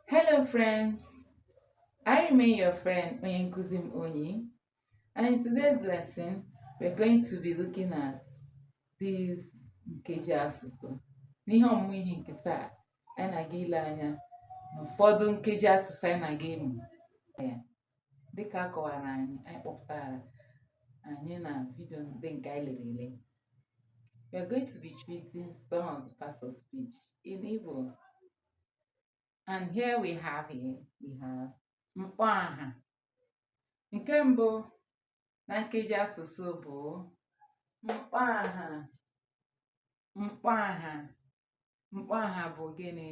Hello friends, I remain your friend Onyenkuzim Onyi and in today's lesson we're going to be looking at these nkeji asụsụ. N'ihe ọmụmụ ihe nke taa, anyị na-aga ile anya n'ụfọdụ nkeji asụsụ anyị na-aga ịmụ. dịka a kọwara anyị anyị kpọpụtara anyị na vidio ndị nke anyị lere ele we are going to be treating some of the parts of speech in Igbo and here we have here we have mkpọaha nke mbụ na nkeji asụsụ bụ mkpọaha mkpọaha mkpọaha bụ gịnị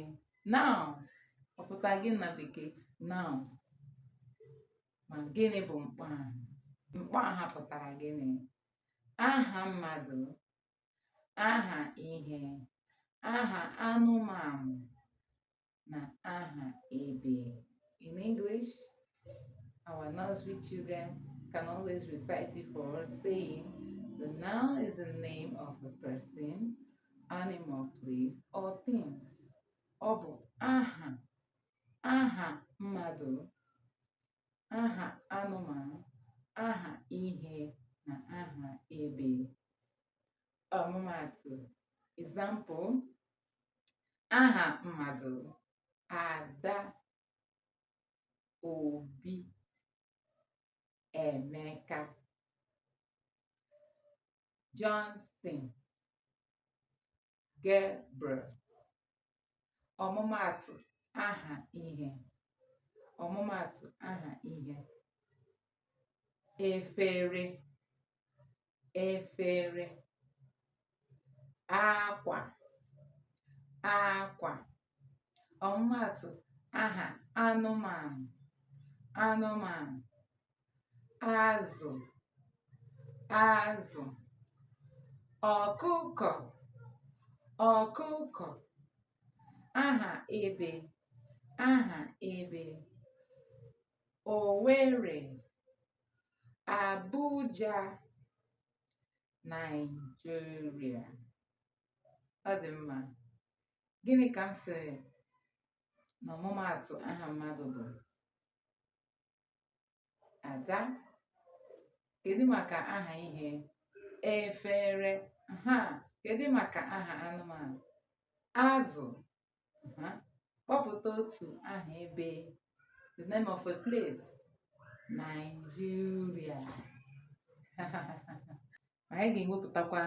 nouns ọ pụtara gịnị na bekee nouns ma gịnị bụ mkpọaha mkpọaha pụtara gịnị aha mmadụ aha ihe aha anụmanụ na aha ebe. In English, our nursery children can always recite it for us saying, the noun is the name of a person, animal, place, or things. Ọ bụ aha, aha mmadụ, aha anụmanụ, aha ihe na aha ebe. Ọmụmaatụ, example, aha mmadụ ada obi emeka johnson gabriel ọmụmaatụ aha ihe ọmụmaatụ aha ihe efere efere akwa akwa ọmụmaatụ aha anụmanụ anụmanụ azụ azụ ọkụkọ ọkụkọ aha ebe aha ebe owere Abuja, Nigeria. Ọ dị mma. Gịnị ka m sịrị na ọmụmaatụ aha mmadụ bụ? Ada. Kedu maka aha ihe? Efere. Ha. Kedu maka aha anụmanụ? Azụ. Aha. Kpọpụta otu aha ebe. The name of a place. Nigeria. Anyị ga-ewepụtakwa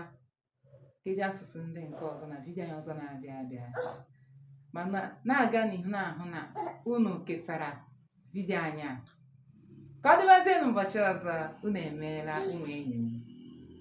nkeji asụsụ ndị nke ọzọ na vidiyo anyị ọzọ na-abịa abịa. Ma na-aga n'ihu na-ahụ na unu kesara vidiyo anyị a. Ka ọ dịbazie n'ụbọchị ọzọ, unu emeela ụmụ enyi m.